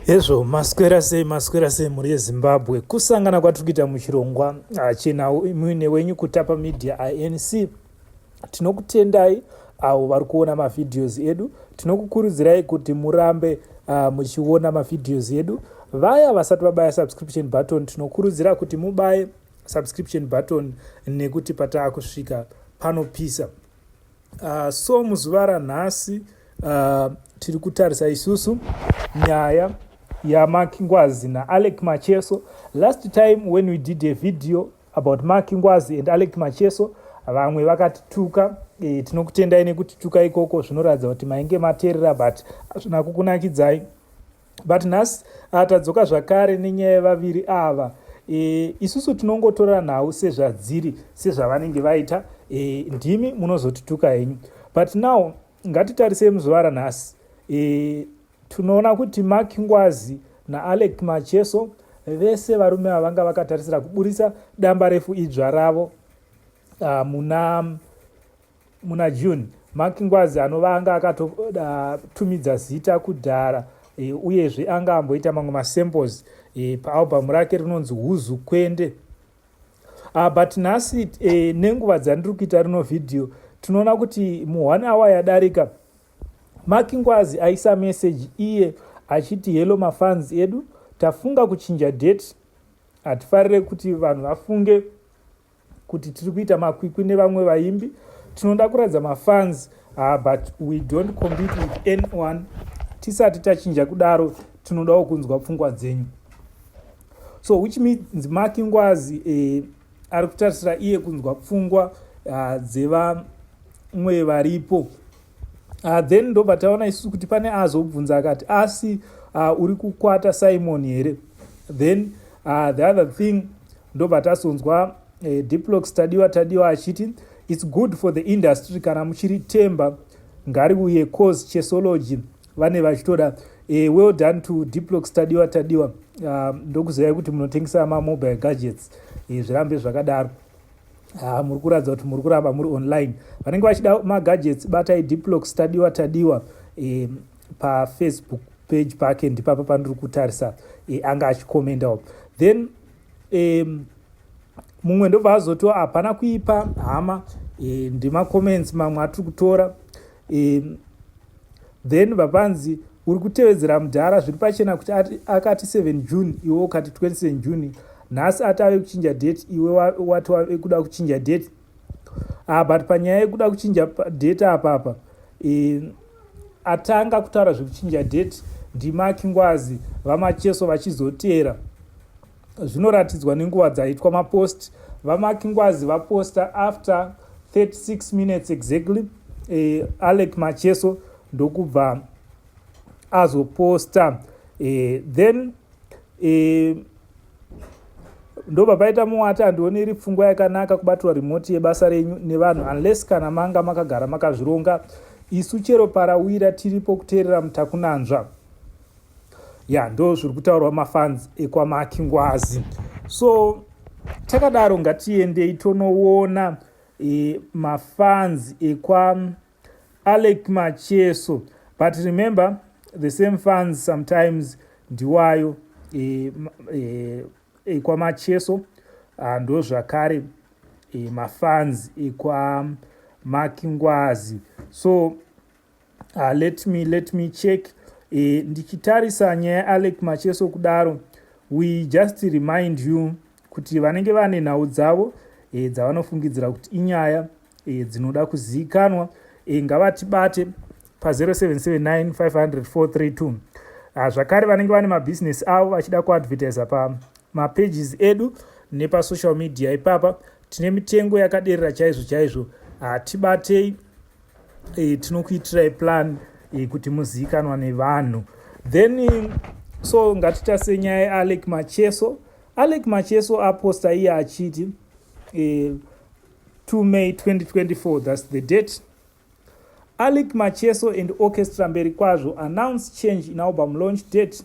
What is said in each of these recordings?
Hezvo maswera sei maswera sei mhuri yezimbabwe kusangana kwatiri kuita muchirongwa hachena muine wenyu kutapa media inc tinokutendai avo vari kuona mavhidhios edu tinokukurudzirai kuti murambe uh, muchiona mavhidhios edu vaya vasati vabaya subscription button tinokurudzira kuti mubaye subscription button nekuti pataa kusvika panopisa Uh, so muzuva ranhasi uh, tiri kutarisa isusu nyaya yamark ngwazi naalec macheso last time when we did a video about mark ngwazi and alec macheso vamwe vakatituka e, tinokutendai nekutituka ikoko zvinoratidza kuti mainge materera but hazvina kukunakidzai but nhasi ah, tadzoka zvakare nenyaya yevaviri ava e, isusu tinongotora nhau sezvadziri sezvavanenge vaita e, ndimi munozotituka henyu but now ngatitarisei muzuva ranhasi e, tinoona kuti mak ngwazi naalec macheso vese varume ava vanga vakatarisira kuburitsa damba refu idzva ravo uh, muna muna June, Mark Ngwazi anova anga akatotumidza uh, zita kudhara e, uyezve anga amboita mamwe masamples e, paalbhamu rake rinonzi Huzu Kwende. Uh, but nhasi e, nenguva dzandiri kuita rino vhidhiyo tinoona kuti mu one hour yadarika Mark Ngwazi aisa meseji iye achiti hello mafans edu tafunga kuchinja date hatifarire kuti vanhu vafunge kuti tiri kuita makwikwi nevamwe vaimbi tinoda kuratidza mafans uh, but we don't compete with anyone tisati tachinja kudaro tinodawo kunzwa pfungwa dzenyu so which means maki ngwazi eh, ari kutarisira iye kunzwa pfungwa uh, dzevamwe varipo uh, then ndobva taona isusu kuti pane azobvunza akati asi uh, uri kukwata simon here then uh, the other thing ndobva tasonzwa uh, eh, diplox tadiwa tadiwa achiti its good for the industry kana muchiri temba ngari uye cause chesology vane vachitoda uh, well done to diplox tadiwa tadiwa uh, ndokuzivai kuti munotengesa mamobile gadgets uh, zvirambe zvakadaro Ah, muri kuratidza kuti muri kuramba muri online vanenge vachida magadgets batai diplox tadiwa tadiwa e, pafacebook page pake ndipapa pandiri kutarisa e, anga achikomendawo then e, mumwe ndobva azotiwa hapana kuipa hama e, ndimacomments mamwe atiri kutora e, then vapanzi Uri kutevedzera mudhara zviri pachena kuti akati 7 June iwe ukati 27 June. Nhasi ati ave kuchinja date iwe wati wave kuda kuchinja date. Ah but panyaya yekuda kuchinja date apa apa. Eh atanga kutaura zvekuchinja date ndiMaki Ngwazi vaMacheso vachizoteera. zvinoratidzwa nenguva dzaitwa mapost vamaki ngwazi vaposta after 36 minutes exactly eh, alec macheso ndokubva azoposta eh, then eh, ndobva paita muwati handioni iri pfungwa yakanaka kubatirwa remoti yebasa renyu nevanhu unless kana manga makagara makazvironga isu chero parawira tiripo kuteerera mutakunanzva ya ndo zviri kutaurwa mafans ekwamaki ngwazi so takadaro ngatiendei tonoona e, mafans ekwa alec macheso but remember the same fans sometimes ndiwayo e, e, ekwamacheso ah, ndo zvakare e, mafans ekwa makingwazi so uh, let me let me check e, ndichitarisa nyaya yaalex macheso kudaro we just remind you kuti vanenge vane nhau dzavo e, dzavanofungidzira kuti inyaya e, dzinoda kuzivikanwa e, ngavatibate pa0779500432 ah, zvakare vanenge vane mabhizinesi avo vachida kuadvertisa pamapages edu nepasocial media ipapa tine mitengo yakaderera chaizvo chaizvo hatibatei ah, e, tinokuitirai plan e, kuti muzivikanwa nevanhu then eh, so ngatitarse nyaya yealec macheso alec macheso aposta iye achiti e, 2 may 2024 thats the date alec macheso and orchestra mberi kwazvo announce change in album launch date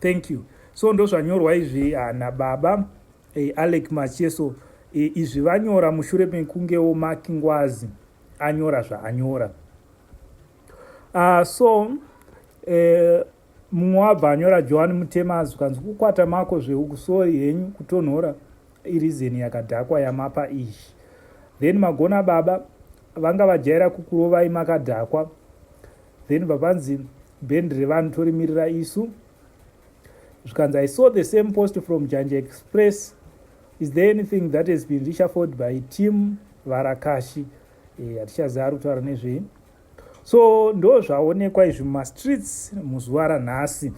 thank you so ndozvanyorwa izvi ah, nababa eh, alec macheso eh, izvi vanyora mushure mekungewo maki ngwazi anyora zvaanyora uh, so eh, mumwe wabva anyora johani mutema azvikanzi kukwata mako zveukusoi henyu kutonhora irizeni yakadhakwa yamapa izvi then magona baba vanga vajaira kukurovai makadhakwa then vapanzi band revanhu torimirira isu zvikanzi i saw the same post from janja express is there anything that has been richaford by team varakashi eh, hatichaziva ari kutaura nezvei so ndo zvaonekwa izvi mumastreets muzuva ranhasi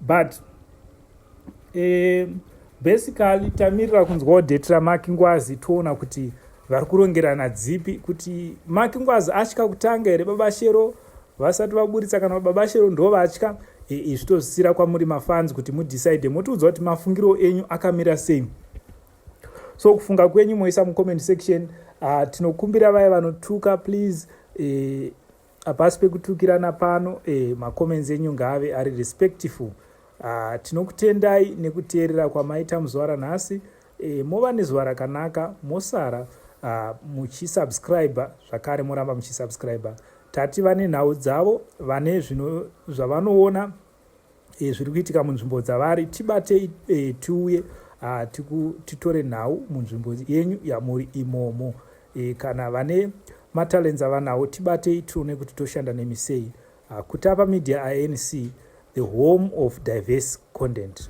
but eh, basically tamirira kunzwawo date ramaki ngwazi toona kuti vari kurongerana dzipi kuti maki ngwazi atya kutanga here baba shero vasati vaburitsa kana baba shero ndo vatya izvi eh, eh, tozisira kwamuri mafanzi kuti mudecide motiudza kuti mafungiro enyu akamira sei so kufunga kwenyu moisa mucomment section uh, tinokumbira vaya vanotuka please uh, Hapasi pekutukirana pano eh, macomments enyu ngaave ari respectful. Ah, tinokutendai nekuteerera kwamaita muzuva ranhasi eh, mova nezuva rakanaka mosara ah, muchisubscribe zvakare moramba muchisubscribe tati vane nhau dzavo vane zvino zvavanoona e, zviri kuitika munzvimbo dzavari tibatei e, tiuye ah, titore nhau munzvimbo yenyu yamuri imomo e, kana vane matalents avanawo tibatei tione kuti toshanda nemi sei ah, kutapa media anc the home of diverse content